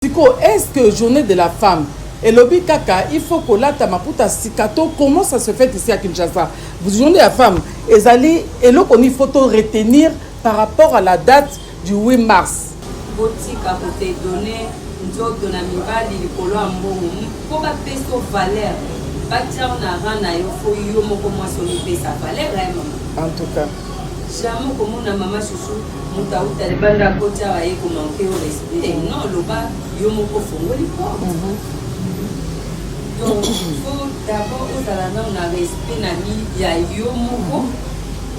Sikoyo est ce que journee de la femme elobi kaka il faut kolata maputa sika to comment ça se fait ici à Kinshasa journée ya femme ezali eloko ni faut to retenir par rapport à la date du 8 mars botika ko te donner nzoto na mibali likolo ya mbongo mpo bapesa valeur batiao na ran na yo fo yo moko mwasi omipesa valeur ya mama en tout cas Jamais okomona mama susu moto auta libanda akoti awa ye komanke yo respect eh, non loba yo moko ofongoli porte mhm. donc fo d'abord ozala nao na respect na mi ya yo moko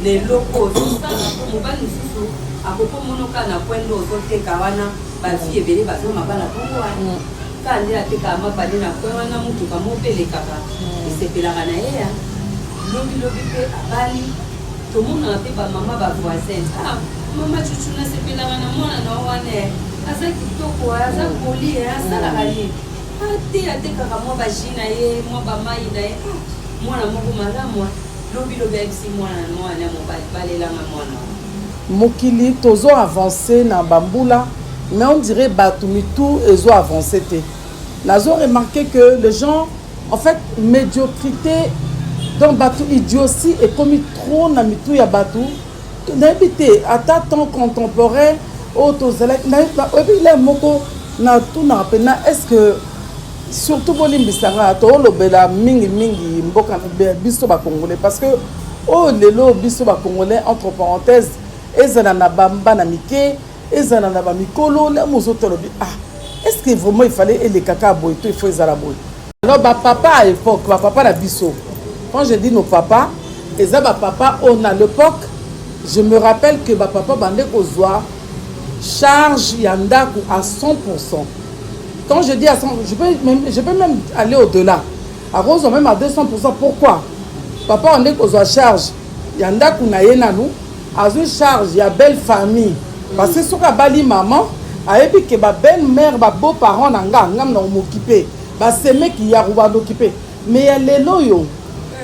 na eloko ozosala po mobali mosusu akoki omonoka na kwendo ozoteka wana bavie ebele baza mabala bongo wana Kaka nde atekaka mabale na coin wana motuka moko mpe elekaka esepelaka na ye ya lobi lobi mpe abali tomonaka mpe bamama ba voisin ah mama cucu nasepelaka na mwana na wana eh. aza kitoko eh, aza poli eh, asalaka ye ah, te atekaka mwa baji na ye mwa bamai na ye ah, mwana moko malamu lobi lobi ayebisi mwana na mwana ya mobali balelanga mwana wana Mokili tozo avancer na ba mbula mais on dirait batu mitu ezo avancer te. Nazo remarquer que les gens en fait mediocrite donc batu idiotie ekomi trop na mitu ya batu. Nayebi te ata temps contemporain oyo tozalaki nayebi le moko natunaka pena est-ce que Surtout bolimbisa nga toolobela mingi mingi mboka biso ba congolais parce que oyo oh, lelo biso ba congolais entre parenthèse ezala na bana mike ezala na bamikolo na mozoto alobi ah est ce que vraiment il fallait eleka kaka boye to il faut ezala boye alors bapapa à époque bapapa na biso quand je dis nos papa eza bapapa oyo na l'époque je me rappelle que bapapa bande kozwa charge ya ndaku à 100% quand je dis à 100 je peux même, je peux même aller au-delà akozwa même à 200% pourquoi papa wande kozwa charge ya ndaku na ye nanu azwi charge ya belle famille parce que soki abali maman ayebi ke ba belle mère ba beau parent na nga ngam na komokipe basemeki ya kobandokipe Mais ya lelo oyo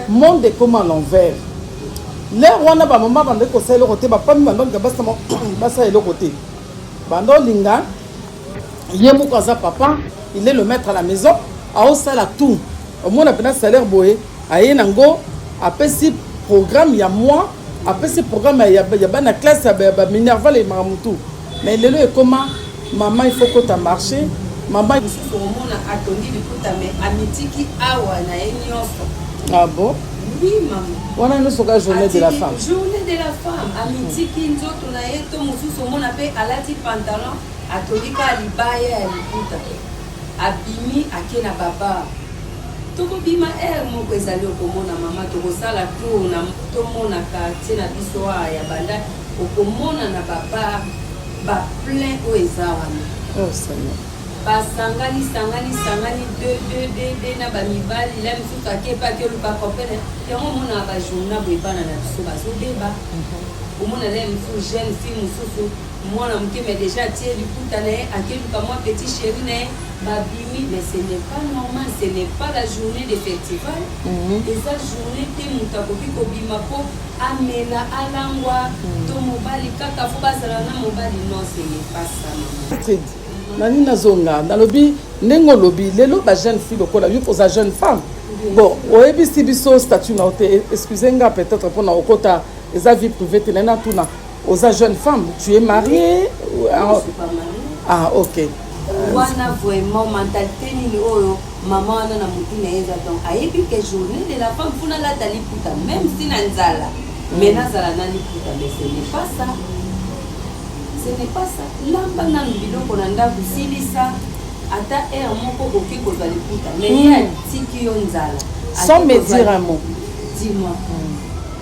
monde ekoma à l'envers l'heure wana ba mama banda kosala eloko te bapami banda olinga basama basala eloko te banda olinga ye moko aza papa il est le maître à la maison aosala tout omona mpena salaire boye aye nango apesi programme ya moi apesi programme ya bana classe ya baminerval emaka motu Mais lelo ekoma maman il faut kota marche maman mususu omona atondi likuta mais amitiki awa na ye nyonso ah bon oui maman wana nyonso ka journée de la femme journée de la femme amitiki nzoto na ye to mosusu omona mpe alati pantalon atondi ka libaya ya likuta abimi ake na baba tokobima ere eh, moko ezali okomona mama tokosala tour na tomona quartier na biso awa ya banda Okomona na ba bar ba plein oyo eza wana. Oh seigneur. Basangani sangani sangani de de de de na ba mibali la misusu ake pa ke luka kopele yango omona ba journal boye bana na biso bazobeba mhm. omona la misusu jeune fille mosusu mwana moke mais déjà atie likuta na ye ake luka mwa petit chéri na ye babimi mais ce n'est pas normal ce n'est pas la journée de festival mhm. eza journée te moto akoki kobima mpo Amela alangwa to mobali kaka faut bazala na mobali non c'est le passa maman. nani nazonga nalobi ndenge olobi lelo ba jeune fille lokola yo oza jeune femme bon oyebisi biso statut na yo te excuse nga peut-être mpona okota eza vie privé te nani atuna Oza jeune femme, tu es mariée ou... Non, je suis pas mariée. Ah, ok. wana vraiment mentalité nini oyo mama wana na motu na ye eza donc ayebi ke journée de la femme mpona alata liputa même si na nzala mais nazala na liputa mais ce n'est pas ça ce n'est pas ça lamba nanu biloko na ndako silisa ata heure moko okoki kozwa liputa mais ye atiki yo nzala sans me dire un mot dis-moi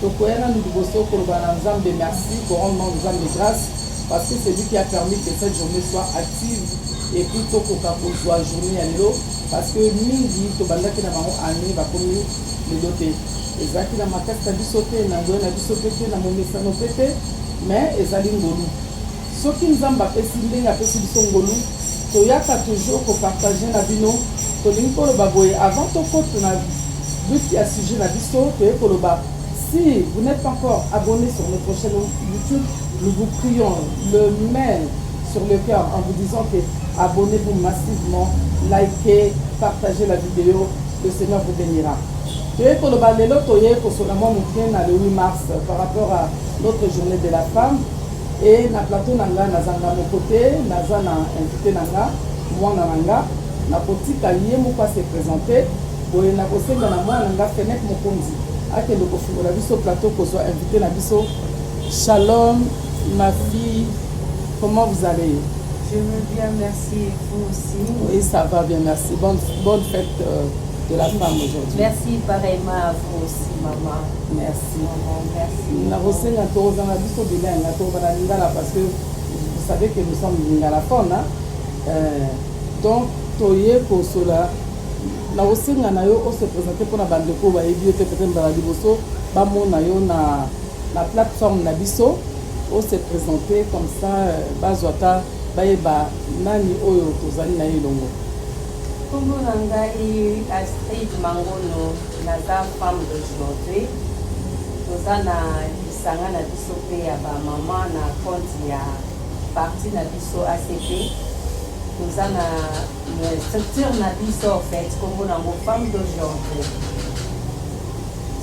Tokoya nanu liboso koloba na nzambe merci ko rendre nanu nzambe grace parce que c'est lui qui a permis que cette journee soit active et puis tokoka kozua journee ya lelo parce que mingi tobandaki na bango annee bakomi lelo te ezalaki na makasi na biso te na ngoya na biso pe te na momesano pe te mais ezali ngolu Soki nzambe apesi ndenge apesi biso ngolu toyaka toujours ko partager na bino tolingi koloba boye avant tokoto na but ya sujet na biso toye koloba si vous n'êtes pas encore abonne sur notre chaîne youtube nous vous prions le mail sur le cœur en vous disant que abonnez-vous massivement likez partagez la vidéo le seigneur vous bénira toye koloba lelo toye kosola mwa moke na le 8 mars par rapport à notre journée de la femme Et na plateau na nga naza nga moko te, naza na invite na nga, mwana na nga, nako tika ye moko a se presenter, boye nako senga na mwana na nga Fenech Mokonzi akende ko fungola biso plateau kozua invite na biso. Shalom ma fille, comment vous allez? Je veux bien, merci. Et vous aussi Oui, ça va bien, merci. Bonne, bonne fête euh, de la femme aujourd'hui. Merci, pareillement à vous aussi, maman. Merci. Nakosenga tokozanga biso bilingue na toloba na lingala parce que vous savez que nous sommes lingalaphone hein donc toye kosola nakosenga na yo ose presente mpo na bandeko oyo bayebi yo te peut-être mbala liboso bamona yo na na plateforme na biso ose presente comme ça euh, bazwa ata bayeba nani oyo tozali na ye elongo Kombo na ngai Astride Mangono, naza femme de Jlonzwe. Toza na lisanga na biso pe ya ba maman na compte ya parti na biso ACP. Toza na structure na biso en fait kombo na ngo femme de Jlonzwe.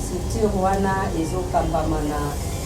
Structure wana ezo kambama na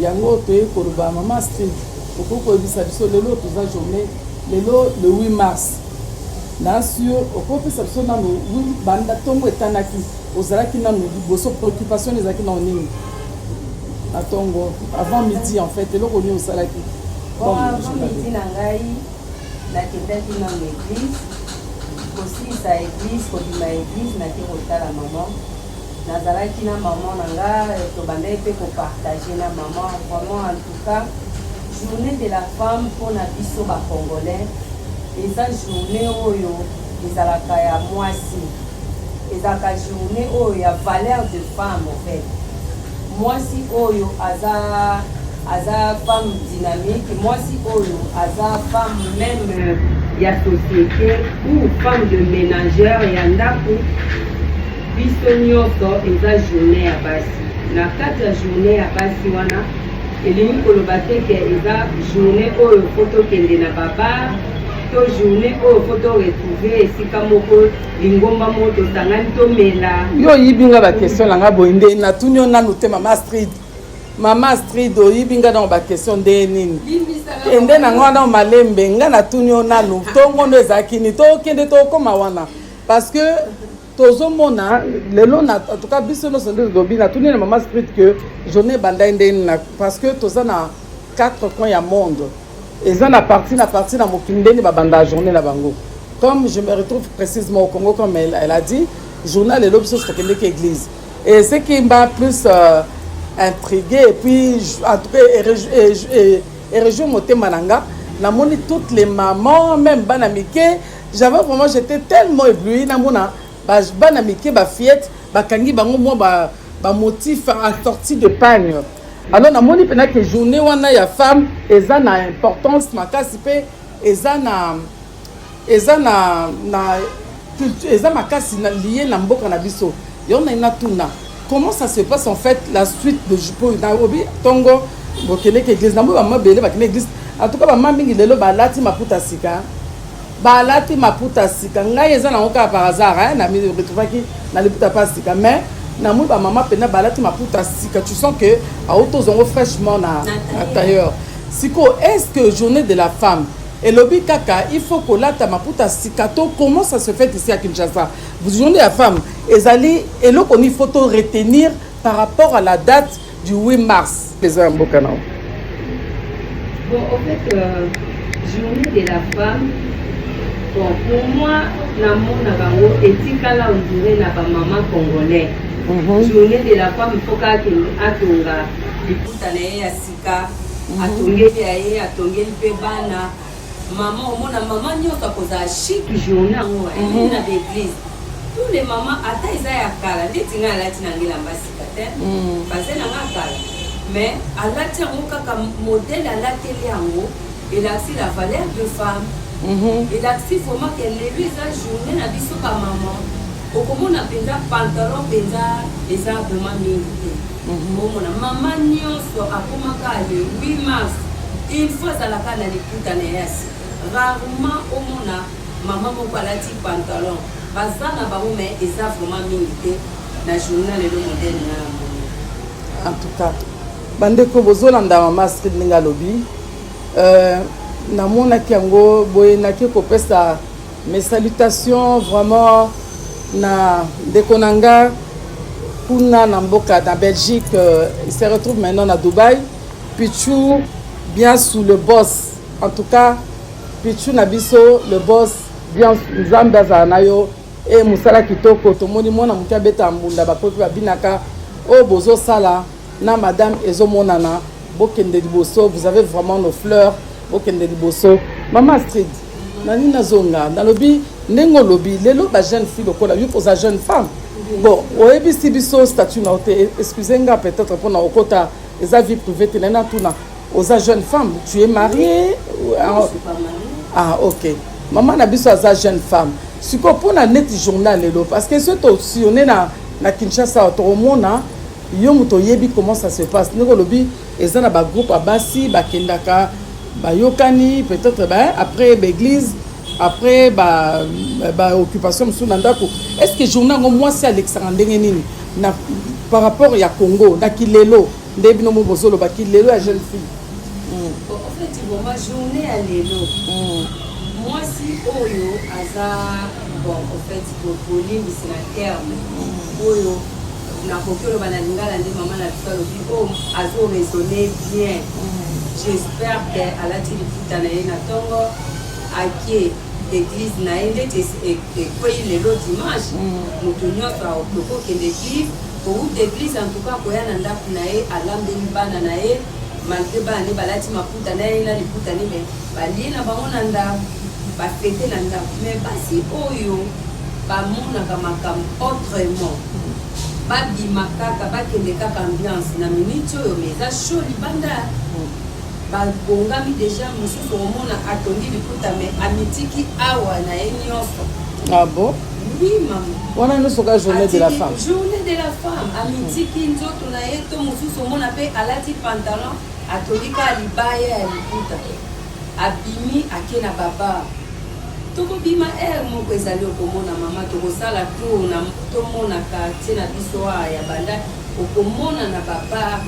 Yango toye koloba maman Astrid okoki koyebisa biso lelo toza journée lelo le 8 mars na sur okopesa biso nanu banda ntongo etanaki ozalaki nanu liboso préoccupation ezalaki nao nini na ntongo avant midi en fait eloko nini osalaki bon avant midi na ngai nakendaki nanu église kosilisa église kobima église nake kotala maman Nazalaki na maman na nga tobandaki pe ko partager na maman vraiment en tout cas journee de la femme pona biso ba congolais eza journee oyo ezalaka ya muasi ezalaka journee oyo ya valeur de femme en fait Mwasi oyo aza aza femme dynamique, mwasi oyo aza femme meme ya société ou femme de ménageur ya ndaku. Biso nyoso eza journée ya basi, na kati ya journée ya basi wana elingi koloba te ke eza journée oyo po tokende na babar to journée oyo po to retrouver esika moko lingomba moko tosangani tomela yo oyibi nga baquestion na nga boye nde natuni yo nanu te mama astrid mama astrid oyibi nga nango baquestion ndeye nini ende na nga wana malembe nga natuni yo nanu ntongo ndo ezalaki nini tokende tokoma wana parce que tozomona lelo na en tout cas biso nyonso nde tolobi natuni na mama astrid que journée ebandai ndeni na parce que toza na quatre coins ya monde Eza na parti na parti na mokili ndenge babanda journée na bango comme je me retrouve précisément au Congo comme elle, elle a dit journal lelo biso tokendeki église et ce qui m'a plus euh, intrigué et puis en tout cas erejoue motema na nga namoni toutes les mamans même bana mike j'avais vraiment j'étais tellement ébloui namona bana mike bafillette bakangi bango mwa bamotif ba en sortie de pagne ba Alors namoni pena que journée wana ya femme eza na importance makasi pe eza na eza na na eza makasi na lié na mboka na biso yango na ina tuna comment ça se passe en fait la suite de po na obi tongo bokendeke église na mboka mabele bakende église en tout cas bama mingi lelo balati maputa sika Ba lati maputa sika ngai eza nango kaka par hasard hein na mi retrouvaki na liputa pa sika mais na mui ba maman pena ba lati maputa sika tu sens que auto zongo fraîchement na na tailleur siko est-ce que journée de la femme elobi kaka il faut kolata maputa sika to comment ça se fait ici à Kinshasa journée ya femme ezali eloko ni faut to retenir par rapport à la date du 8 mars eza ya mboka nao bon au fait euh, journée de la femme bon pour moi namonaka yango etikala ondire na bamama congolais mhm. journée de la femme fo kaka atonga liputa na ye ya sika mhm. atongeli ya ye atongeli mpe bana mama omona mama nyonso akozala chic journée yango mhm. na baeglise tous les mama ata eza ya kala ndeti ngai alati na ngelambasi baze na nga kala mais alati yango kaka modele alateli yango elakisi la valeur de femme mhm. elakisi vraiment ke lelo eza journée na biso bamama okomona mpenza pantalon mpenza eza vraiment mingi te mhm. omona mama nyonso akomaka le 8 mars une fois azalaka na likuta na ya sika rarement omona mama moko alati pantalon baza na bango mais eza vraiment mingi te Na journal lelo modèle nga na moni. En tout cas, bandeko bozolanda mama Astrid ndenge alobi euh, namonaki yango boye nake kopesa mes salutations vraiment na ndeko na nga kuna na mboka na belgique euh, il se retrouve maintenant na dubaï pichu bien sous le boss en tout cas pichu na biso le boss bien nzambe azala na yo E eh, mosala kitoko tomoni mwana moke abeta mbunda bakoki mpe babinaka oyo oh, bozosala na madame ezomonana bokende liboso vous avez vraiment nos fleurs bokende liboso mama astrid na nini nazonga nalobi ndenge olobi lelo ba jeune fille lokola yo oza jeune femme bon oyebisi biso statut na yo te excuse nga peut-être mpona okota eza vie privée te nani atuna oza jeune femme tu es mariée euh, ah ok mama na biso aza jeune femme sikoyo mpona neti journal lelo parce que soki tosillone na, na kinshasa awa tokomona yo moto oyebi comment ça se passe ndenge olobi eza na bagroupe ya basi bakendaka bayokani peut-être ba, après baeglise après baoccupation ba, ba mosusu na ndako est ce que journal yango mwasi alekisaka ndenge nini na, par rapport ya congo na kilelo nde bino mo bozoloba ki lelo ya jeune fille mm. en fait vraiment journée ya lelo mm. mwasi oyo aza bon en fait bolimbisi na terme mm. oyo nakoki oloba na lingala nde mama na biso alobi oyo oh, azo raisonne bien mm. j'espère que alati liputa na ye na ntongo ake eglise na ye ndeti ekweyi lelo dimanche moto nyonso akoki kokende eglise kowuta eglise antuka akoya na ndako na ye alambeli bana na ye malgre bana nde balati maputa na ye na liputa nde me balie na bango na ndako bafete na ndako me basi oyo bamonaka makambo autrement babima kaka bakende kaka ambiance na minute oyo me eza sho libanda Ba bongami dejà mususu omona atongi liputa mais amitiki awa na ye nionso. Ah bon? Oui maman. Wana nionso ka journée de la femme. Journée de la femme amitiki nzoto na ye to mususu omona pe alati pantalon atongi ka libaya ya liputa. Abimi ake na baba. Tokobima heure moko ezali okomona mama tokosala tour na tomona quartier na biso awa ya banda okomona na baba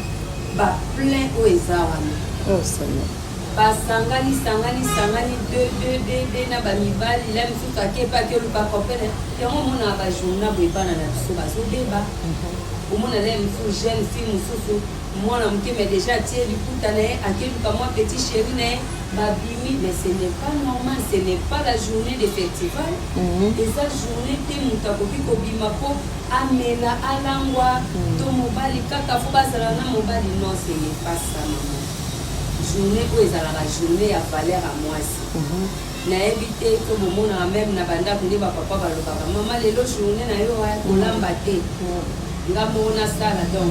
Ba plein oyo eza wana. Oh Seigneur. basangani sangani sangani dededede na bamibali la misusu akepe akeluka kopele yango omonaka bajourna boye bana na biso bazobeba mhm. omona la misusu jeune fille mosusu mwana moke mai deja atie likuta na ye akeluka mwa petit chéri na ye babimi mais ce n'est pas normal ce n'est pas la journée de festival mhm. eza journée te moto akoki kobima po Amela alangwa to mobali kaka faut bazala na mobali non ce n'est pas ça maman. Journee oyo ezalaka journee ya valeur ya mwasi. Nayebi te to bomonaka meme na bandako nde ba papa balobaka maman lelo journee na yo hein kolamba te. Nga moko nasala donc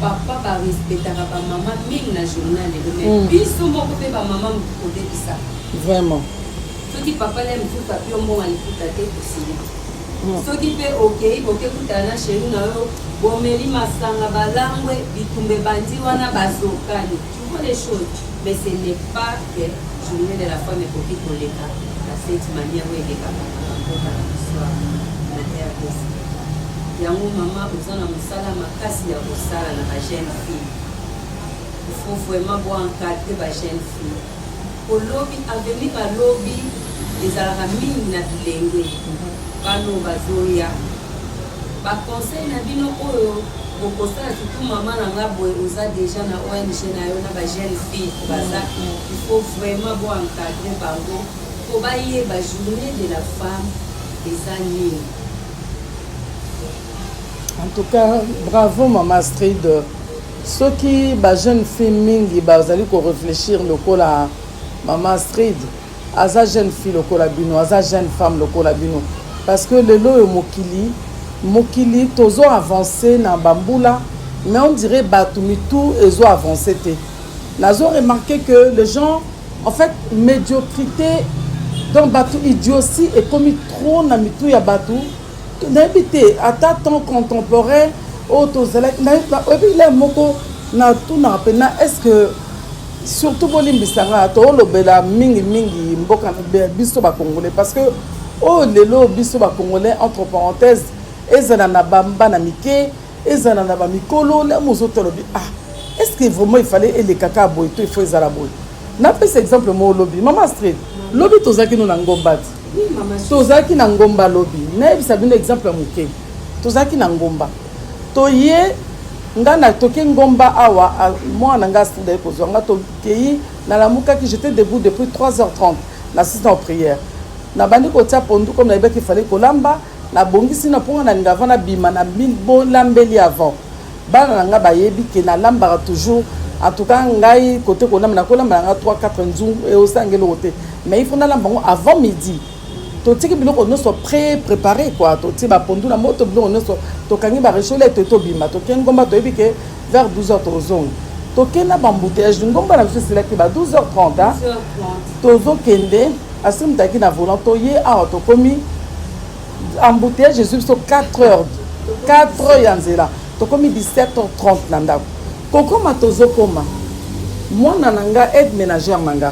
papa ba respectaka ba maman mingi na journal lelo mais biso moko pe ba maman kobebisa. Vraiment. Soki papa lem kuta pio mbongo alikuta te osiliki. Soki pe okeyi boke kutana na cherie na yo bomeli masanga balangwe bitumba ebandi wana bazokani tu vois les choses mais ce n'est pas que journee de la femme ekoki koleka na cette manière oyo elekaka na mboka na biso na rdc yango mama oza na mosala makasi ya kosala na ba jeune fille il faut vraiment boencadre ba jeune fille Po lobi avenue ba lobi ezalaka mingi na bilenge bano bazoya ba conseil na bino oyo bokosala surtout maman na nga boye oza deja na ONG na yo na ba jeune fille baza il faut vraiment bo encadrer bango po bayeba journée de la femme eza nini En tout cas, bravo Mama Astrid. Soki ba jeune fille mingi ba zali ko reflechir lokola maman Astrid aza jeune fille lokola bino aza jeune femme lokola bino parce que lelo yo mokili mokili tozo avancer na bambula mais on dirait batu mitu ezo avancer te nazo remarquer que les gens en fait médiocrité donc batu idiotie ekomi trop na mitu ya batu nayebi te ata temps contemporain oyo oh, tozalaki nayebi le moko natunaka mpena est ce que surtout bolimbisa nga toolobela mingi mingi mboka biso bacongolais parce que oyo oh, lelo biso bacongolais entre parenthèse ezala na bana mike ezala na bamikolo le mozoto alobi ah est ce que vraiment ifallait eleka kaka boye to ifo ezala boye napesa exemple mo olobi mama astrid lobi tozalaki no na ngobati tozalaki na ngomba lobi nayebisa bino exemple ya moke tozalaki na ngomba toye nga na toke ngomba awa mwana na nga asidai kozwa nga tokei nalamukaki j'étais debout depuis 3h30 nasisi na prière nabandi kotia pondu comme nayebaki fallait kolamba Na bongisi na ponga na linga avant na bima na bo lambeli avant bana na nga bayebi ke na lambaka toujours en tout cas ngai kote kolamba na kolamba na nga 3 4 nzungu et osange loko te mais il faut na lamba ngo avant midi to tiki biloko nyoso pré préparé quoi to ti ba pondu na moto biloko nyoso to kangi ba rechole to to bima to ken gomba to yebi ke Vers 12 heures tozonga. Toke na ba embouteillages, ngomba na biso esilaki ba 12h30 hein. Tozokende, asi mutaki na volant toye awa tokomi embouteillage ezwi biso 4 heures 4 heures ya nzela tokomi 17h30 na ndako kokoma tozokoma mwana na nga aide ménagère na nga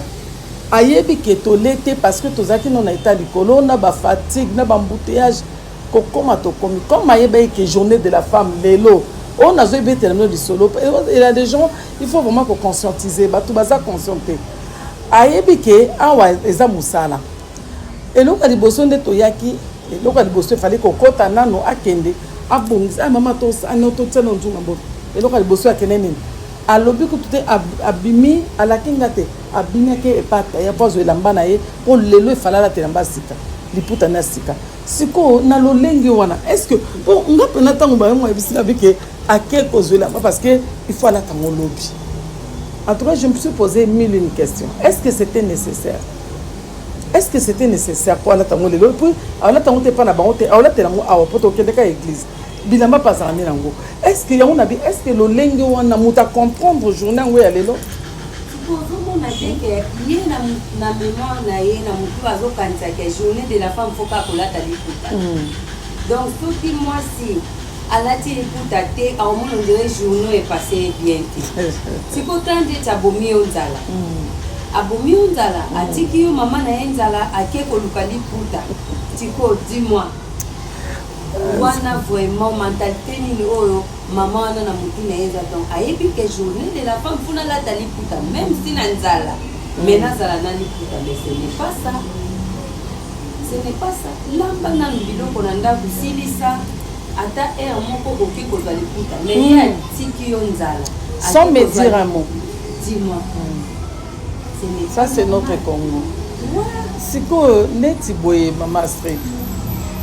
ayebi ke tole te parce que tozalaki no na eta likolo na bafatigue na bambouteyage Kokoma tokomi comme ayebaki que journée de la femme lelo oyo oh, nazo ebetela bino lisolo il y a des gens il faut vraiment ko conscientiser bato baza conscient te ayebi ke awa eza mosala eloko ya liboso nde toyaki eloko ya liboso efali kokɔta nano akende abongisa ah, mama totia na nzunga mboto eloko ya liboso akende nini alobi kutu te abimi alaki nga te abimi ake epata ya po azwa elamba na ye mpo lelo efalala te elamba ya sika liputa na sika Sikoyo na lolenge wana est-ce que po nga mpena ntango bayongo ayebisi nga bike ake kozwela nga parce que il faut alata ngo lobi en tout cas je me suis posé mille une question est-ce que c'était nécessaire est-ce que c'était nécessaire po alata ngo lelo puis alata ngo te epai na bango te aolatela ngo awa po tokendeka église bilamba mpe azalami na yango est ce que yango na bi est ce que lolenge wana moto acomprendre journée yango ya lelo tozomona te ke ye na memoire na ye na motu azokanisa ke journée de la femme fo kaka kolata liputa hmm. donc soki mwasi alati liputa te aomona ondire journaux epasse ye bien te sikoyo ta ndeti abomi yo nzala hmm. abomi yo nzala hmm. atiki yo mama na ye nzala ake koluka liputa sikoyo dis moi wana vraiment mentalite nini oyo Maman wana na mutu na ye eza donc ayebi que journee de la femme faut nalata liputa meme si na nzala mais nazala na liputa mais ce n'est pas ça ce n'est pas ça lamba nanu biloko na ndako silisa ata heure moko okoki kozwa liputa mais ye atiki yo nzala sans me dire un mot dis-moi ça c'est notre congo sikoyo neti boye mama astrid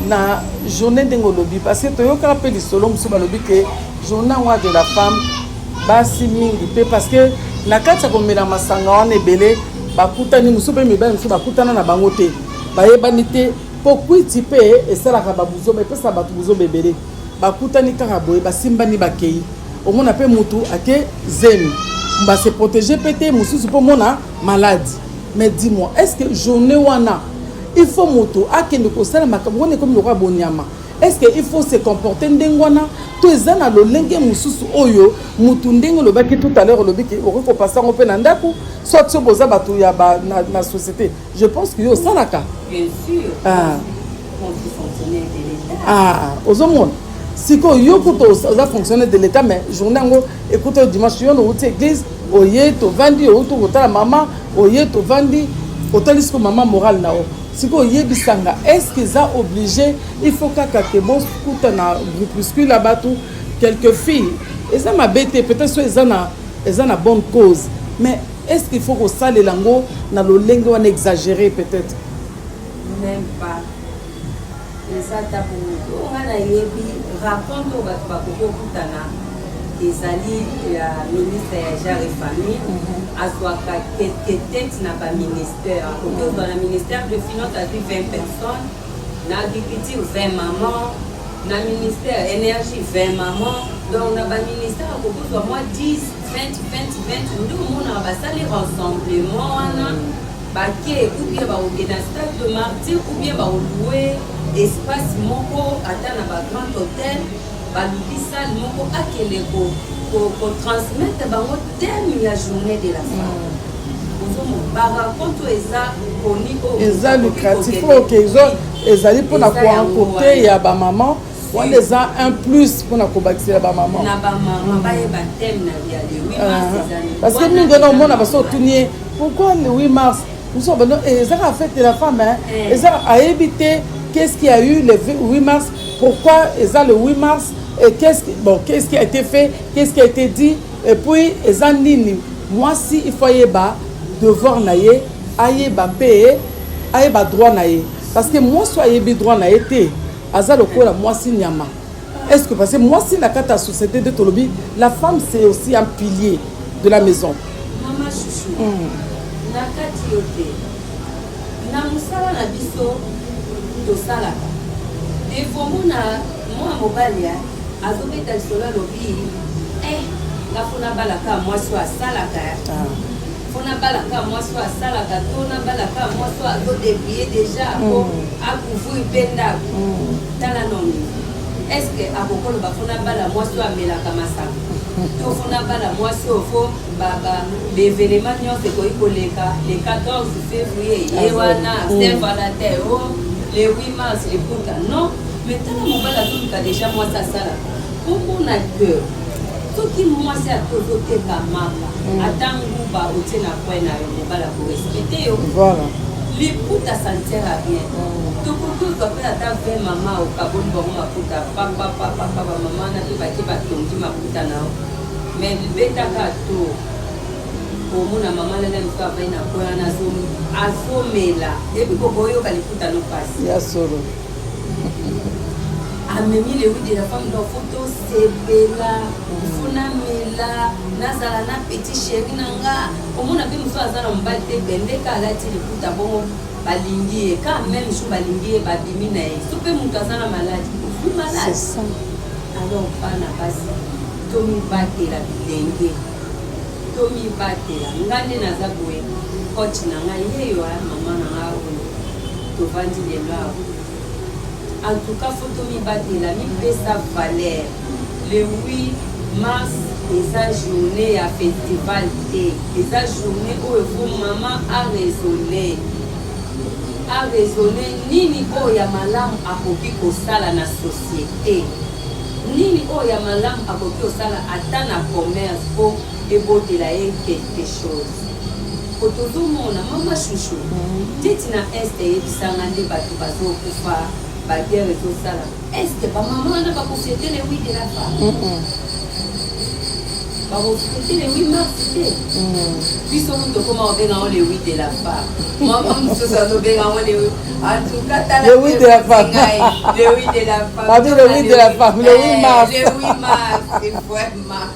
na journée ndenge olobi parce que toyokaka mpe lisolo mosusu balobi ke journée wa de la femme basi mingi mpe parce que na kati ya komela masanga wana ebele bakutani mosusu mpe mibali mosusu bakutana na bango te bayebani te mpo kwiti mpe esalaka babuzoba epesaka bato buzoba ebele bakutani kaka boye basimbani bakei omona mpe mutu ake zemi ba se protéger mpe te mosusu mpo omona maladi mais dis moi est ce que journée wana il faut moto akende kosala makambo wana ekomi lokola bonyama est ce que il faut se comporter ndenge wana to eza na lolenge mosusu oyo motu ndenge olobaki tout à l'heure olobi ke okoki kopasa yango mpe na ndako soit so boza bato ya na, na société Je pense que yo osalaka. Bien sûr. Ah. Ah, ozomona sikoyo yo kuta oza fonctionnaire de l'état mais journée yango ekuta yo dimanche yo nouti église oye tovandi outi kotala mama oye tovandi otali sikoyo mama morale na yo sikoyo oyebisa nga est ce que eza oblige il faut kaka ke bokuta na groupuscule ya bato quelques filles eza mabe te peut-être so eza na eza na bonne cause mais Est ce qu'il faut kosalela yango na lolenge wana exagere peut-être même pas eza ata bongo oyo ngai nayebi raconte oyo bato bakoki okutana ezali ya ministre ya genre et famille mhm. azwaka quelques tete na baministère akoki ozwa na ministère de finance azwi 20 personnes na agriculture 20 maman na ministère énergie 20 maman donc na baministère akokozwa mwa 10 20 20 20 nde omonaka basali rassemblement wana bake ou bien baoke na stade de martyr ou bien baolue espace moko ata na bagrand hôtel Baluki salle moko akende ko ko ko transmettre bango thème ya journée de la femme. eza lucratif po oke ezali mpona koencourte ya bamama wana eza un plus mpona kobakisela bamama parce que mingi wana omona basi otuni ye pourquoi le 8 mars mosusu bano ezaka fete la femme ezaka ayebi te qu'est ce qui a eu le 8 mars Pourquoi eza le 8 mars et qu'est-ce qui, bon, qu'est-ce qui a été fait, qu'est-ce qui a été dit et puis eza nini mwasi il faut ayeba devoir na ye ayeba mpe ayeba droit na ye parce que mwasi ayebi droit na ye te aza lokola mwasi nyama est ce que parce que mwasi na kati ya société nde tolobi la femme c'est aussi un pilier de la maison Maman Chouchou, mm. na kati yo te Na mosala na biso tosalaka defomo na mwana mobali ya azobeta lisolo alobi eh, nga fo nabalaka mwasi oyo asalaka ah. fo nabalaka mwasi oyo asalaka to nabalaka mwasi oyo azodeplie deja po mm. akuvui mpe ndako mm. tala nongi estce akokoloba fo nabala mwasi oyo amelaka masanga to fo nabala mwasi oyo fo Baba, l'evenement nyonso ekoki koleka le 14 février ye wana Saint Valentin o oh, le 8 mars ekuta non mais tala mobali azoluka déjà mwasi asala komona que soki mwasi atozoteka mapa mm. ata nguba otie na kwe na yo mobali akorespecte yo liputa santiere a bien mm. tokoki ozwa mpe ata ve mama okaboli bango maputa papapapapa bamama na mpe bake batongi maputa na yo Mais beta ka tour omona mama lala miko avai na coin wana azomela ebi koboyoka lifuta no pasi ya solo amemi ah, lewi de la femme donc fo tosepela fo namela nazala na petit chéri na nga omona mpe mosusu aza na mobali te bende ka alati lifuta bongo balingi ye ka meme jour balingi ye babimi na ye so mpe moto aza na maladi ofi maladi Alors bana basi tomibatela bilenge tomibatela nga nde naza boye coach na ngai yeyo ya mama na ngai oyo tovandi lelo awa en tout cas fo tomibatela mipesa valeur le 8 mars eza journée ya festival te eza journée oyo fo mama araisonne araisonne nini oyo ya malamu akoki kosala na société ye te nini oyo ya malamu akoki kosala ata na commerce po ebotela ye quelque chose po tozomona mama chouchou ndeti na est eyebisanga nde bato bazokufa baguerre ezosala estce bamama wana bakofete le wi de la femme bakofete le wi mars te biso kutu okoma kobenga ngo le wi de la femme mama mosusu azobenga ngo le En tout cas, t'as le oui de la femme. Le oui de la femme. T'as vu le oui de la femme, le oui mars. Le oui mars, c'est vraiment.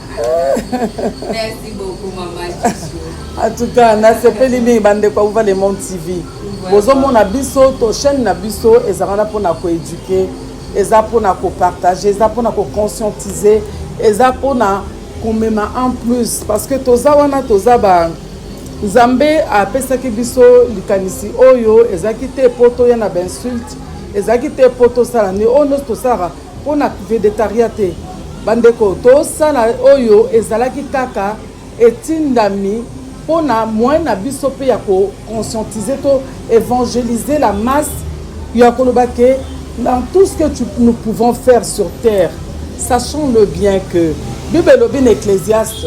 Merci beaucoup, maman Chichou. En tout cas, nasepeli mingi bandeko ya uva le monde tv bozomona biso to chaîne na biso eza wana mpona koeduke eza mpona kopartage eza mpona koconscientise eza mpona komema en plus parce que toza wana toza ba Nzambe apesaki biso likanisi oyo ezalaki te mpo toya na bainsulte, ezalaki te mpo tosala nde oyo nyonso tosalaka mpo na vedetaria te. Bandeko, tosala oyo ezalaki kaka etindami mpo na moyen na biso mpe ya koconscientiser to évangéliser la masse ya koloba ke dans tout ce que tu, nous pouvons faire sur terre sachons le bien que bible elobi na ecclésiaste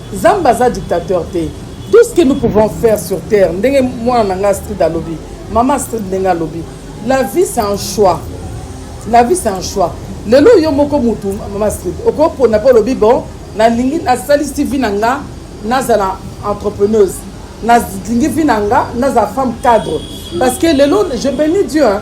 Zambe aza dictateur te. Tout ce que nous pouvons faire sur terre, ndenge mwana na nga Astrid alobi, mama Astrid ndenge alobi, la vie c'est un choix. La vie c'est un choix. Lelo yo moko mutu mama Astrid, okopona mpo olobi bon, nalingi nasalisi vie na nga nazala entrepreneuse. Nalingi vie na nga nazala femme cadre. Parce que lelo je bénis Dieu hein.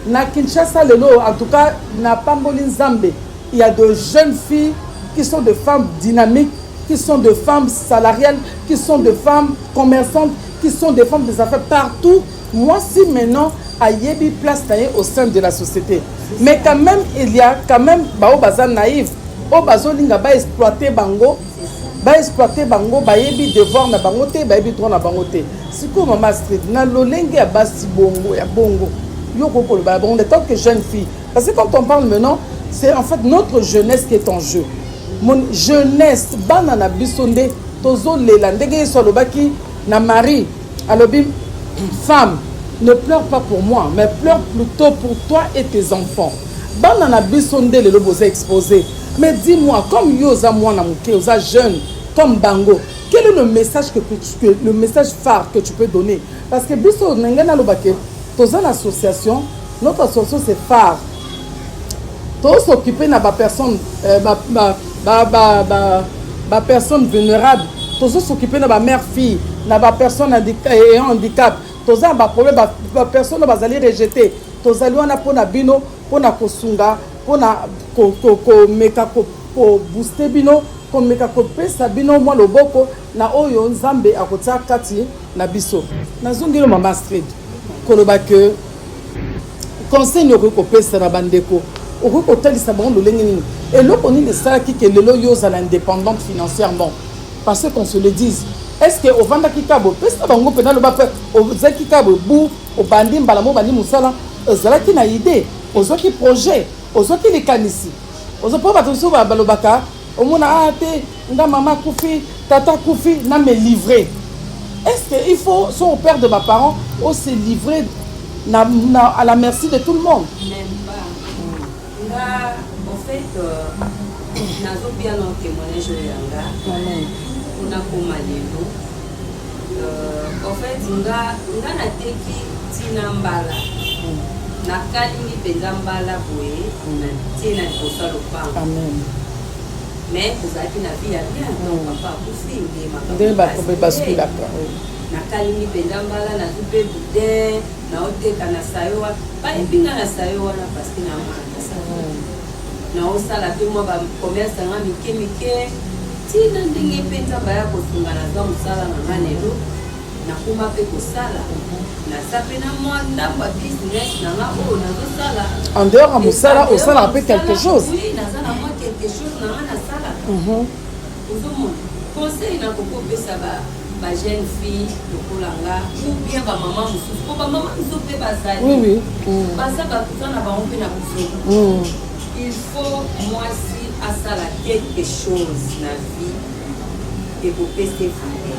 na Kinshasa lelo en tout cas napamboli Nzambe Il y a de jeunes filles qui sont des femmes dynamiques, qui sont des femmes salariales, qui sont des femmes commerçantes, qui sont des femmes des affaires partout. Moi, si maintenant, ayebi place taillée au sein de la société. Mais quand même, il y a quand même, bah, oh, baza naïf, oh, bazo linga, bah, exploiter bango, bah, exploiter bango, bah, yebi devoir na bango te, bah, yebi droit na bango te. C'est comme Maman Street, na lolenge ya basi bongo, ya bongo. Yo, kokolo, bah, bongo, tant que jeune fille, Parce que quand on parle maintenant, c'est en fait notre jeunesse qui est en jeu. Mon jeunesse, bana na biso nde tozolela ndenge Yesu alobaki na Marie, alobi femme, ne pleure pas pour moi, mais pleure plutôt pour toi et tes enfants. Bana na biso nde lelo boza exposé. Mais dis-moi, comme yo oza mwana moke, oza jeune, comme bango, quel est le message que, que le message phare que tu peux donner? Parce que biso ndenge nalobaki, toza na association Notre solution c'est phare. To s'occuper na ba personnes euh, ba ba ba ba ba, ba personnes vulnérables. To s'occuper na ba mère fille, na ba personnes euh, ayant handicap. Toza ba problème ba, ba personnes bazali rejeter. Tozali wana pona bino, pona kosunga, pona ko ko ko meka ko, ko booster bino, ko meka ko pesa bino mwa loboko na oyo Nzambe akotia kati na biso. Nazongelo mama Astrid koloba que conseil nini okoki kopesa na bandeko okoki kotalisa bango lolenge nini eloko nini esalaki ke lelo yo ozala indépendante financièrement parce qu'on se le dise est ce que ovandaki kabo pesa bango mpena loba mpe ozalaki kabo ebu obandi mbala mo obandi mosala ozalaki na idée ozwaki projet ozwaki likanisi ozo mpo bato mosusu balobaka omona a ah, te nga mama akufi tata akufi na me livre est ce que il faut so au père de ba parents o se livre na, na, à la merci de tout le monde Même pas. nga au fait euh, nazobia na témoignage oyo ya nga mpona koma lelo Euh, en fait nga nga nateki ntina mbala mm. nakalingi mpenza mbala boye mm. na ntie na liboso ya lopango mais tozalaki na vie ya bien donc mm. papa akufi nde makambo bakobe baskulaka nakalingi mpenza mbala nazwi mpe boudin naoteka na sayo wana bayebi nga na sayo wana parce que na mwana Naosala pe mwa ba commerce na nga mike mike ti na ndenge pe Nzambe aya kosunga nazwa mosala na nga lelo nakoma pe kosala naza pe na mwa ndambo ya business na nga oyo nazosala en dehors ya mosala osalaka pe quelque chose oui naza na mwa quelque chose na nga nasalaka Ozomona conseil na koko pesa ba ba jeune fille lokola nga ou bien ba maman mosusu po ba maman mosusu mpe bazali oui, oui. Mm. baza bakuta na bango mpe na bozongi mm. il faut mwasi asala quelque chose na vie ekopesa efale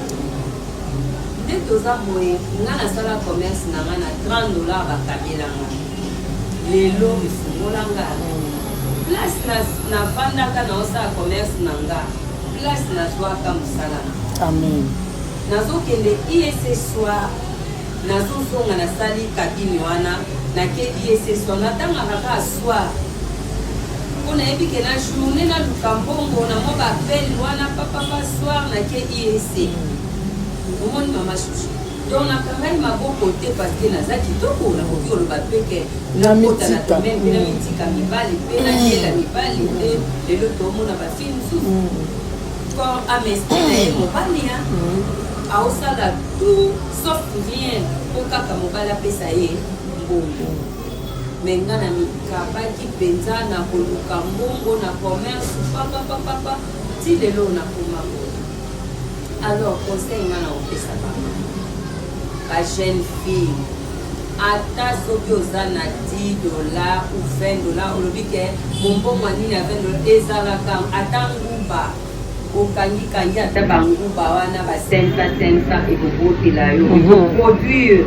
nde toza boye nga nasala commerce na nga na 30 dollar bakabelanga lelo efungola nga place na na vandaka na osa commerce na nga place na zwaka musala na amen nazokende iese soir nazozonga nasali kabine wana nake iese soir natangaka ka soir mpo nayebi ke na journée naluka mbongo na mwa bapele wana papapa soir nake iese omoni mama shushu Donc na kangani maboko te parce que naza kitoko na koki koloba pe ke na kota na domaine pe na mitika mibali pe na yela mibali pe lelo tomona ba fille mosusu quand amesti na ye mobali ya aosala tout sauf rien po kaka mobali apesa ye mbongo me nga na mikabaki mpenza na koluka mbongo na commerce papapapapa ti lelo nakoma boye Alors conseil nga na kopesa bango ba jeune fille ata soki oza na 10 dollar ou 20 dollar olobi ke mombongo nini ya 20 dollar ezalaka ata nguba okangi kangi ata banguba wana ba 5 francs 5 francs ekobotela yo mhm. ekoproduire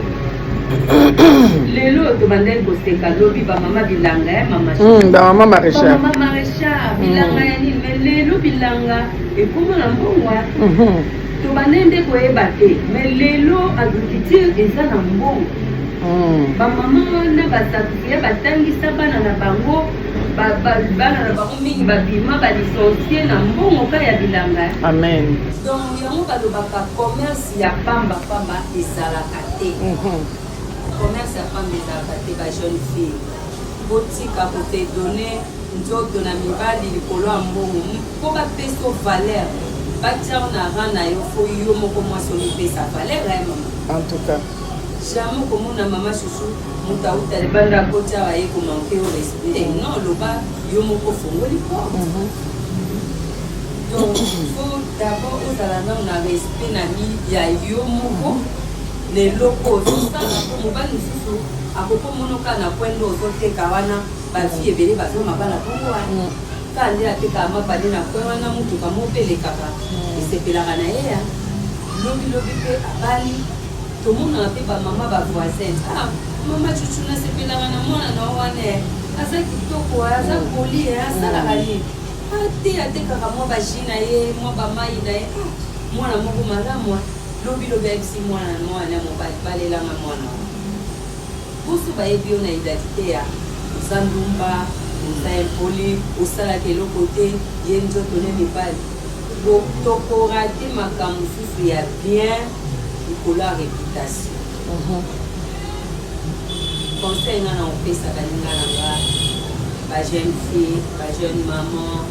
lelo tobandaki koseka lobi bamama bilanga ya mama bamama maréchar bilanga ya nini mais lelo bilanga Ekomo na mbongwa tobandai nde koyeba te me lelo agriculture eza na mbongo hmm. bamama wana basakuya batangisa bana na bango bana na bango mingi babima balicencie na mbongo ka ya bilanga amen donc yango balobaka commerce ya pamba pamba ezalaka te mhm. commerce ya pamba ezalaka te ba jeune fille botika kote donne nzoto na mibali likolo ya mbongo po bapesa yo valeur batia yo na rang na yo fo yo moko mwasi omipesa valeur ya mama en tout cas jamais okomona mama susu moto auta libanda akoti awa ye komanke yo respect eh, non loba yo moko ofongoli porte mhm. donc fo d'abord ozala nao na respect na mi ya yo moko na eloko ozosala po mobali mosusu akokomonoka na kwendo ozoteka wana bavie ebele baza mabala bongo wana mhm. Kaka nde atekaka mabale na coin wana motuka moko mpe elekaka esepelaka na ye ya lobi lobi mpe abali tomonaka mpe bamama ba voisin ah mama cucu nasepelaka na mwana na wana eh. aza kitoko eh, aza poli eh, asalaka mm. nini ah, te atekaka mwa baji na ye mwa bamai na ye ah, mwana moko malamu lobi lobi ayebisi mwana na mwana ya mobali balelanga mwana Poso bayebi yo na identite ya oza ndumba, oza impoli, osalaka eloko te, ye nzoto ne mibali. Bo toko rate makambo mosusu ya bien likolo ya reputation. Conseil nga na opesa baninga na nga, ba jeune fille, ba jeune maman,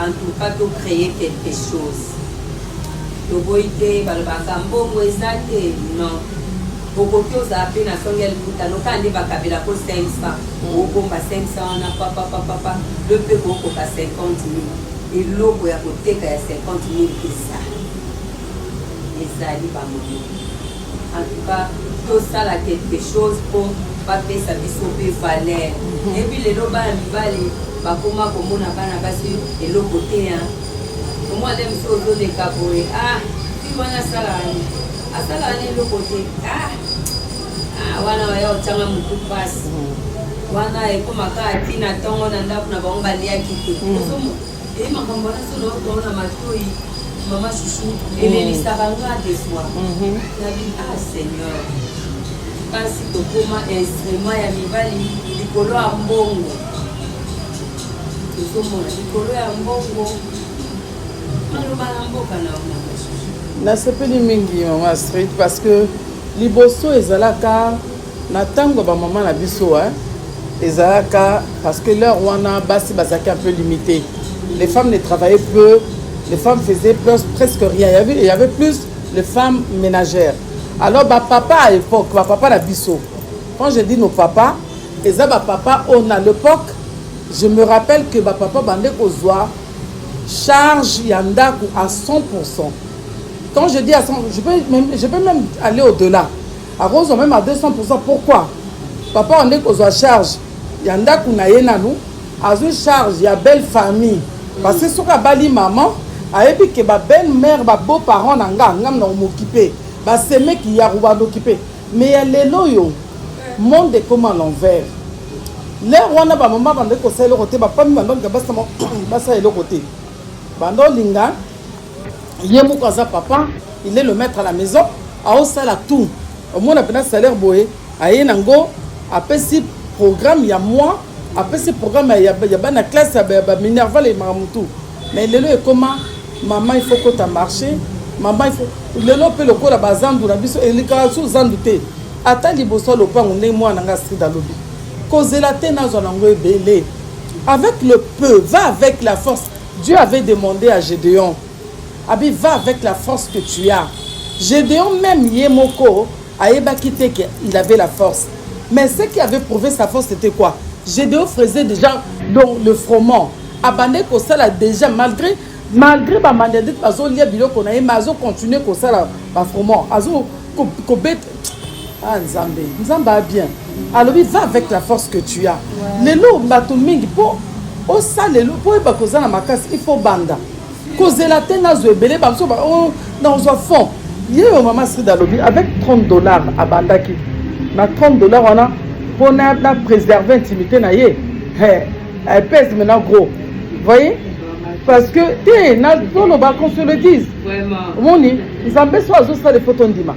en tout cas to cree quelque chose. Toboyi te balobaka mbongo eza te, non. Okoki ozala pe na songe ya liputa loka nde ba kabela ko 500 obomba 500 wana papapapapa yo pe ko koka 50000 eloko ya koteka ya 50000 eza ezali ba mama en tout cas tosala quelque chose po bapesa biso pe valeur epi lelo bana mibale bakoma komona bana basi eloko te omwana mosusu ozoleka boye ah fi wana asalaka Asala wana eloko te. Ah, ah wana waya otanga mutu pasi. Mm. Wana ekoma kaka ti na tongo na ndako na bango baliaki te. Mm. Ozomo, eyi makambo wana solo otongo na matoi. Mama chouchou, mm. elelisaka nga des fois. Mhm. Na bi ah Seigneur. Kasi tokoma instrument ya mibali likolo ya mbongo. Tozomona likolo ya mbongo nasepeli mingi mama astrid parce que liboso ezalaka na ntango ya bamama na biso hein? ezalaka parce que l'heure wana basi bazalaki un peu limité les femmes ne travaillaient peu les femmes faisaient plus, presque rien il y, avait, il y avait plus les femmes ménagères alors bapapa à l'époque bapapa na biso quand je dis nos papas eza bapapa oyo na l'époque je me rappelle que bapapa bande kozwa charge ya ndaku à 100% quand je dis à 100 je peux même, je peux même aller au delà akozwa même à 200% pourquoi papa ande kozwa charge ya ndaku na ye nanu azwi charge ya belle famille parce que soki abali maman ayebi ke ba belle mère ba beau parent na nga ngam na komokipe basemeki ya kobandokipe Mais ya lelo oyo monde ekoma à l'envers l'heure wana ba mama banda kosala eloko te bapami banda olinga basama basala eloko te banda olinga ye moko aza papa il est le maître à la maison aosala tout omona mpena salaire boye aye nango apesi programme ya moi apesi programme ya bana classe ya baminerval emaka motu Mais lelo ekoma maman il faut kota marché maman il faut lelo pe lokola ba zandu na biso elikaka su zandu te ata liboso ya lopango ndenge mwana nga strida lobi kozela te nazwa nango ebele avec le peu va avec la force Dieu avait demandé à Gédéon Abi va avec la force que tu as Gédéon même ye moko Ayebaki te que il avait la force. Mais ce qui avait prouvé sa force c'était quoi? Gédéon faisait déjà donc le froment. Abandait ko sala déjà malgré malgré ba mandadite bazo lia biloko na ye mais azo continuer ko sala ba froment. Azo ko, ko bet ah Nzambe, Nzambe a bien. Alobi va avec la force que tu as. Ouais. Lelo bato mingi po osalelo po oyeba koza na makasi il faut banda. kozela te nazwa ebele bamosusu o oh, nazwa fond ye oyo mama srida alobi avec 30 dollars abandaki na 30 dollars wana mpo na préserve intimité na ye epese maintenant gros voyez parce que te nazoloba qu'on se le dise omoni nzambe so azosala efo tondima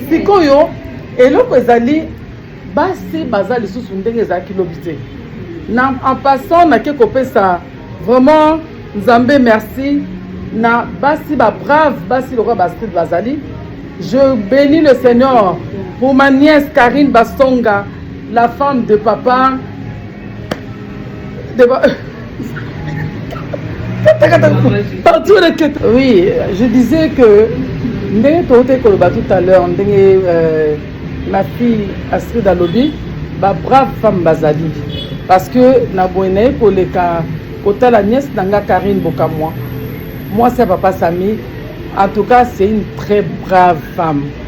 sikoyo eloko ezali basi baza lisusu ndenge ezalaki lobi te na en passant nake kopesa vraiment nzambe merci na basi babrave basi lokola bastrid bazali je bénis le seigneur pour ma nièce karine basonga la femme de papa Oui, je disais que ndenge tootaki koloba tout à l'heure ndenge euh, ma fille Astrid alobi ba brave femme bazali parce que na boye naye koleka kotala nièce na nga Karine Bokamwa mwasi ya papa Sami en tout cas c'est une très brave femme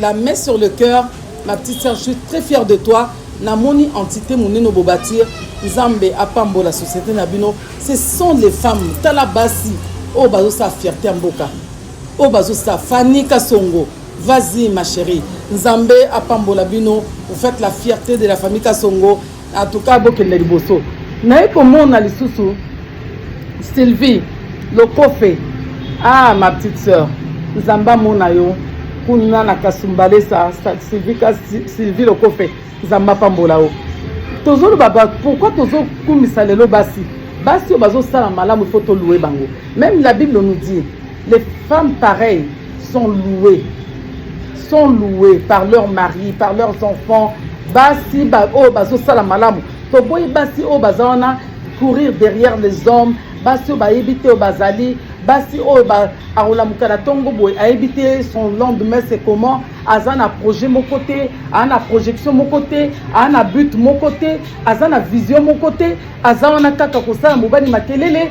la main sur le cœur ma petite sœur je suis très fière de toi namoni entité monene obobatir nzambe apambola société na bino ce sont les femmes tala basi oyo bazosala fierté ya mboka oyo bazosala fani kasongo vas-y ma chérie nzambe apambola bino vous faites la fierté de la famille kasongo En tout cas bokende liboso. Naye komona lisusu Sylvie Lokofe. Ah ma petite sœur, Nzambe amona yo kuna na Kasumbalesa Sylvie Sylvie Lokofe. Nzambe apambola yo. Tozoloba ba pourquoi tozokumisa lelo basi? Basi oyo bazosala malamu faut tolue bango. Même la Bible nous dit Les femmes pareilles sont louées sont louées par leurs maris, par leurs enfants. Basi ba oyo bazosala malamu toboyi basi oyo baza wana courir derrière les hommes basi oyo bayebi te oyo bazali basi oyo akolamuka na ntongo boye ayebi te son lendemain c'est comment aza na projet moko te aza na projection moko te aza na but moko te aza na vision moko te aza wana kaka kosala mobali makelele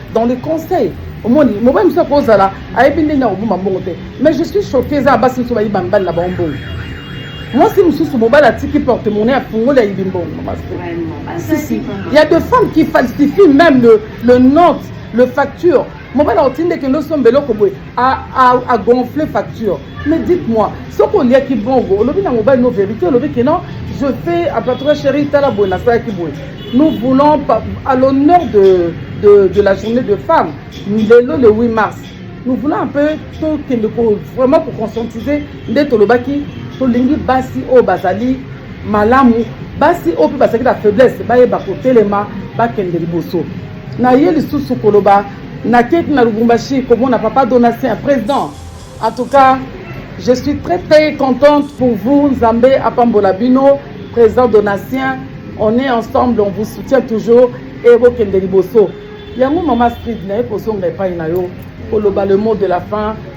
dans le conseil omoni mobali mosusu akozala ayebi ndenge akobomba mbongo te mais je suis choqué eza na basi mosusu bayiba mibali na bango mbongo mwasi mosusu mobali atiki porte monnaie afungoli ayibi mbongo masisi il y a de femmes qui falsifie même le, le note le facture mobali akotinda ekende osomba eloko boye a, a, a gonfle facture mais dites-moi soki oliaki bongo olobi na mobali no vérité olobi ke non je fais apatro chéri tala boye nasalaki boye nous voulons à l'honneur de, de, de la journée de femme lelo le 8 mars nous voulons un peu tokende vraiment koconscientiser nde tolobaki tolingi basi oyo bazali malamu basi oyo mpe bazalaki na faiblesse bayeba kotelema bakende liboso naye lisusu koloba nakeki na lubumbashi komona papa donatien président en tout cas je suis très très contente pour vous nzambe apambola bino président donatien on est ensemble on vous soutient toujours e bokende liboso yango mama strid naye kozonga epai na yo koloba le mot de la fin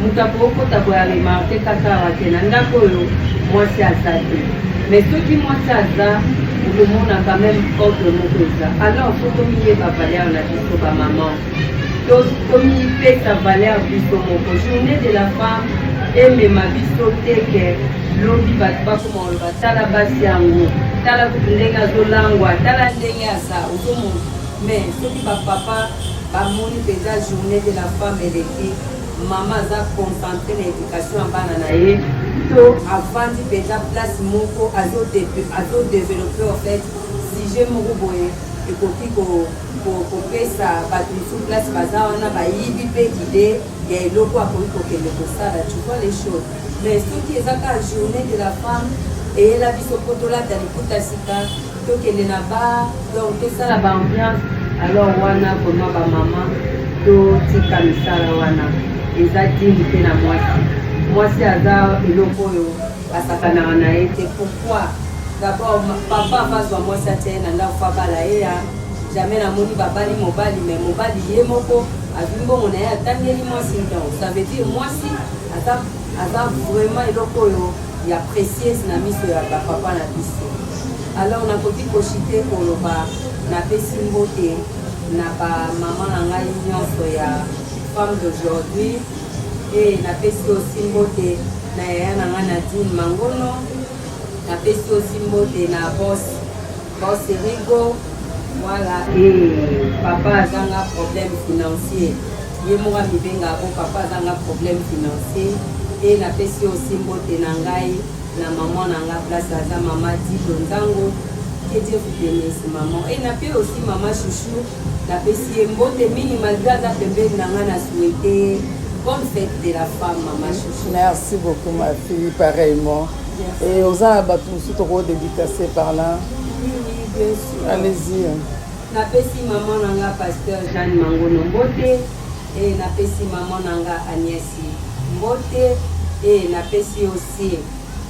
Moto akokota boye aremarke kaka awa te na ndako oyo mwasi aza te, mais soki mwasi aza okomona quand même ordre moko eza. Alors fo tomiyeba valeur na biso bamaman, tomipesa valeur biso moko. Journée de la femme emema biso te ke lobi bato bakoma oloba tala basi yango tala kutu ndenge azolangwa tala ndenge aza ozomona Mais soki ba papa ba moni penza journée de la femme eleki mama aza concentre na education ya bana na ye to avandi penza place moko azodeveloppe en fait sujet moko boye ekoki kopesa bato mosusu place baza wana bayibi mpe ide ya eloko akoki kokende kosala tu vois les choses mais soki eza kaka journée de la femme eyela biso mpo tolata liputa sika tokende na bar donc tosala ba ambiance alors wana vraiment ba mama totika misala wana eza dini mpe na mwasi mwasi aza eloko oyo asakanaka na ye te pourquoi d'abord papa avazwa mwasi atia ye na ndako fa bala ye ya jamais namoni babali mobali mais mobali ye moko azwi mbongo na ye atangeli mwasi donc ça veut dire mwasi aza Aza vraiment eloko oyo ya précieuse na miso ya ba papa na biso. Alors nakoki koshite koloba napesi mbote na ba mama na ngai nyonso ya femme d'aujourd'hui et napesi aussi mbote na yaya na ngai Nadine Mangono. Napesi aussi mbote na boss Boss Rigo voilà hmm, papa azanga problème financier ye moko amibenga bo papa azanga problème financier e napesi osi mbote na ngai na maman na ngai place aza mama dido nzango que Dieu vous bénisse maman et na pe aussi maman chouchou napesi ye mbote mingi malgré aza pembeni na ngai na souhaite bonne fête de la femme maman chouchou merci beaucoup ma fille pareillement Et aux uns, bah, tout ce qu'on dédicacé par là. Oui, bien sûr. Allez-y. Hein. pesi maman nanga pasteur Jeanne Mangono Mbote et pesi maman nanga Agnès Mbote et pesi aussi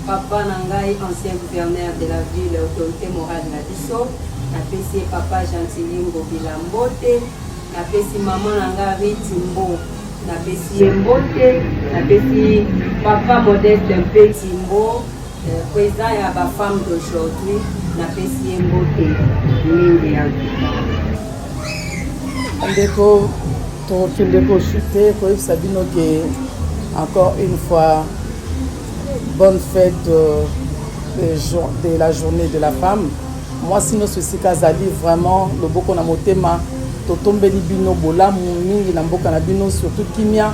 papa nangai ancien gouverneur de la ville autorité morale na biso pesi papa Gentilin Bobila Mbote Napesi maman na nga Riti Mbo, napesi ye mbote, napesi papa Modeste Mpeti Mbo, euh, président ya ba femme d'aujourd'hui, napesi ye mbote mingi ya ndeko tokokende koshute koyebisa bino ke encore une fois bonne fête euh, de, de la journée de la femme Mwasi nioso esika azali vraiment loboko na motema totombeli bino bolamu mingi na mboka na bino surtout kimia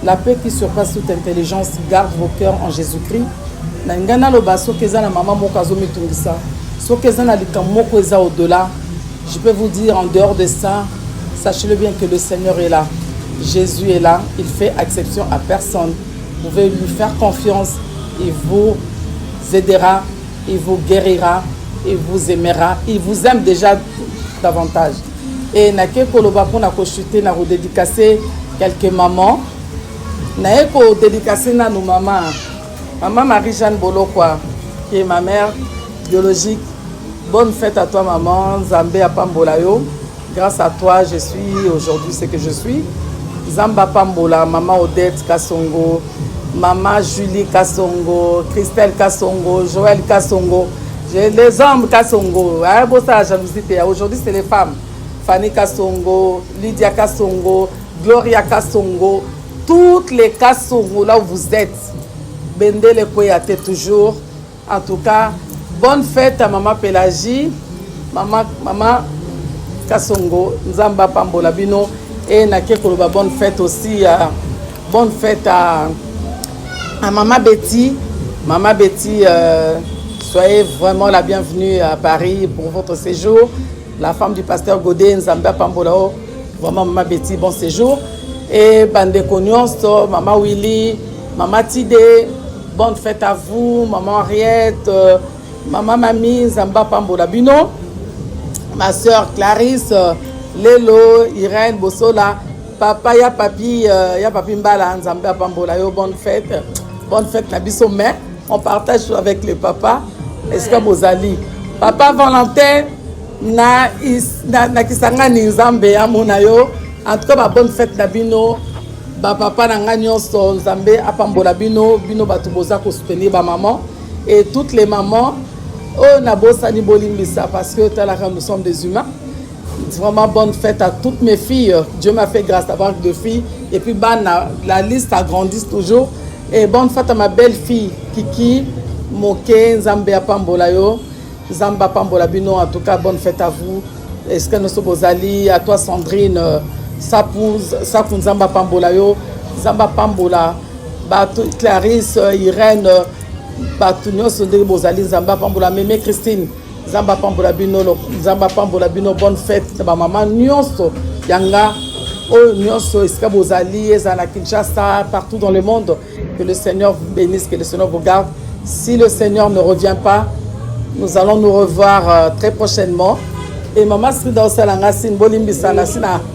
la paix qui surpasse toute intelligence garde vos cœurs en Jésus-Christ na ngai naloba soki eza na mama moko azomitungisa soki eza na likambo moko eza au-delà je peux vous dire en dehors de ça sachez-le bien que le Seigneur est là Jésus est là il fait exception à personne vous pouvez lui faire confiance il vous aidera il vous guerira il vous aimera il vous aime déjà davantage et nake koloba mpo na kochute na kodedikase quelques mamans naye kodedikase nanu mama mama marie jeanne bolokwa qui est ma mère biologique bonne fête à toi maman nzambe apambola yo Grace à toi je suis aujourd'hui ce que je suis Nzambe apambola mama Odette Kasongo mama Julie Kasongo Christelle Kasongo Joël Kasongo je, les hommes Kasongo hein, bosala jalousie te aujourd'hui c'est les femmes Fanny Kasongo Lydia Kasongo Gloria Kasongo toutes les Kasongo là où vous êtes bendele kweya te toujours En tout cas, bonne fête à maman Pelagie, maman maman Kasongo, Nzamba pambola bino et na koloba bonne fête aussi à bonne fête à à maman Betty, maman Betty euh, soyez vraiment la bienvenue à Paris pour votre séjour. La femme du pasteur Godet Nzambe apambola o vraiment mama Betty bon séjour et bandeko nyonso mama Willy mama Tide bonne fête à vous maman Henriette euh, mama Mami Nzambe apambola bino ma sœur Clarisse euh, Lelo Irène Bosola papa ya papi euh, ya papi Mbala Nzambe apambola yo bonne fête bonne fête na biso mais On partage tout avec le papa. Est-ce que bozali? Papa Valentin na, is, na, na Kisangani Nzambe amona yo. En tout cas, ba bonne fête na bino. Ba papa na nga nyonso Nzambe apambola bino, bino bato boza ko soutenir ba maman et toutes les mamans oyo oh, nabosani bolimbisa parce que talaka nous sommes des humains Vraiment bonne fête à toutes mes filles. Dieu m'a fait grâce d'avoir deux filles. Et puis, bah, la, la liste agrandit toujours. Et bonne fête à ma belle-fille, Kiki, Moke, Nzambe Apambola yo. Nzambe Apambola bino. En tout cas, bonne fête à vous. Est-ce que nous sommes aux alliés? À toi, Sandrine, euh, Sapou, Sapou Nzambe Apambola yo. Nzambe Apambola. Bato, Clarisse, euh, Irène, euh, bato nyonso ndenge bozali nzambe apambola meme christine nzambe apambola bino nzambe apambola bino bonne fete na bamama nyonso ya nga oyo nyonso esika bozali ezala na kinshasa partout dans le monde que le seigneur vous bénisse que le seigneur vous garde si le seigneur ne revient pas nous allons nous revoir euh, très prochainement et mama sida osala nga sini bolimbisana sina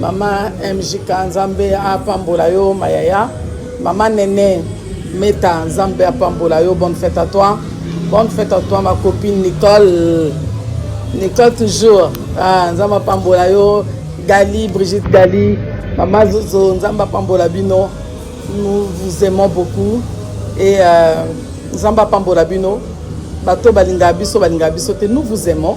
Maman MJK Nzambe apambola yo ma yaya. Maman Nene Meta Nzambe apambola yo bonne fête à toi. Bonne fête à toi ma copine Nicole. Nicole toujours. Ah Nzambe apambola yo. Gali Brigitte Gali. Maman Zozo Nzambe apambola bino. Nous vous aimons beaucoup et euh, Nzambe apambola bino. Bato balinga biso balinga biso te. Nous vous aimons.